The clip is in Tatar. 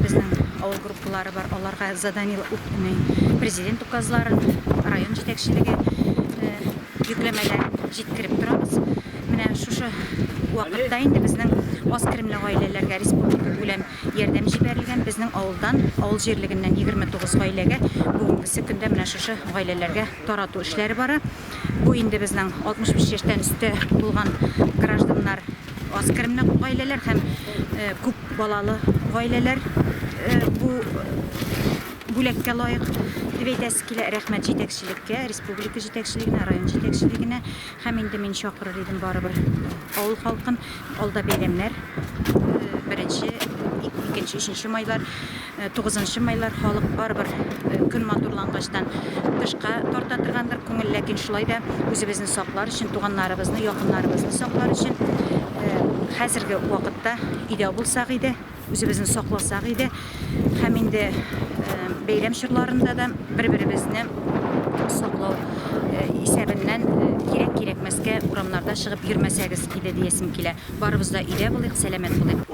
Безнең авыл группалары бар, аларга заданиеләр үтми. Президент указларын район җитәкчелеге йөкләмәләр җиткереп торабыз. Менә шушы вакытта инде безнең аз керемле гаиләләргә республика күләм ярдәм җибәрелгән. Безнең авылдан, авыл җирлегеннән 29 гаиләгә бүгенгесе көндә менә шушы гаиләләргә тарату эшләре бара. Бу инде безнең 65 яшьтән өстә булган гражданнар Аз керемле гаиләләр һәм күп балалы гаиләләр бу бүләккә лаек дип әйтәсе килә. Рәхмәт җитәкчелеккә, республика җитәкчелегенә, район җитәкчелегенә һәм инде мин чакырыр идем барыбер авыл халкын. Алда бәйрәмнәр, беренче, икенче, өченче майлар. Тугызынчы майлар халык барыбер көн матурлангачтан тышка тарта торгандыр күңел, ләкин шулай да үзебезне саклар өчен, туганнарыбызны, якыннарыбызны саклар өчен хәзерге вакытта өйдә булсак иде, үзебезне сакласак иде һәм инде бәйрәм чорларында да бер-беребезне саклау исәбеннән кирәк-кирәкмәскә урамнарда чыгып йөрмәсәгез иде диясем килә. Барыбыз да өйдә булыйк, сәламәт булыйк.